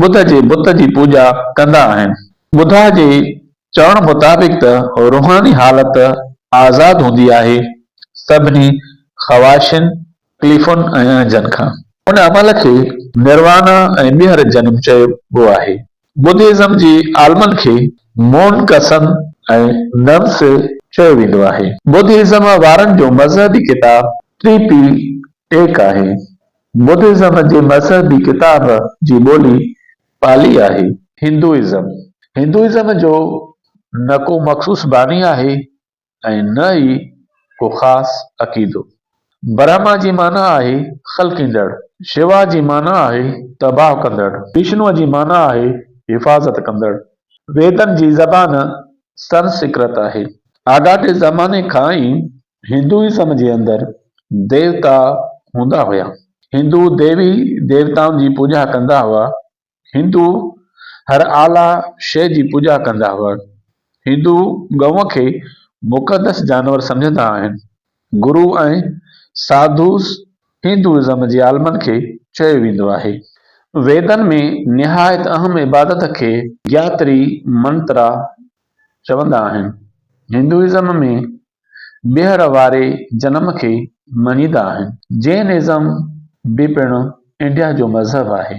ٻڌ جي بت جي پوڄا ڪندا آهن. ٻڌا جي چوڻ مطابق ته روحاني حالت آزاد هوندي آهي سڀني خواهشن، تڪليفن ۽ اڻجن کان. ان عمل کي نروانا ۽ ٻيهر جنم چئبو آهي. ٻڌيزم جي عالمن کي مون ڪسن ۽ ننس چيو ويندو آهي. ٻڌيزم وارن جو مذهبي ڪتاب ٽري پي ٽيڪ آهي. بدهزم جي مذهبي ڪتاب جي ٻولي پالي آهي. هندوئزم، هندوئزم جو نه ڪو مخصوص باني آهي ۽ نه ئي ڪو خاص عقيدو. برهما جي معنيٰ آهي خلقيندڙ، شوا جي معنيٰ آهي تباهه ڪندڙ، وشنوء جي معنيٰ آهي حفاظت ڪندڙ. ويدن جي زبان سنسڪرت آهي. آڳاٽي زماني کان ئي هندوازم جي اندر ديوتا هوندا هيا. هندو ديوي ديوتائن جي پوڄا ڪندا هئا. هندو هر اعليٰ شيء جي پوڄا ڪندا هئا. هندو ڳئون کي مقدس جانور سمجهندا آهن. گرو ۽ ساڌوز هندوازم جي عالمن کي چيو ويندو آهي. ويدن ۾ نهايت اهم عبادت کي گياتري منترا چوندا آهن. هندوازم ۾ ٻيهر واري جنم کي مڃيندا آهن. جين ازم به پڻ انڊيا جو مذهب آهي.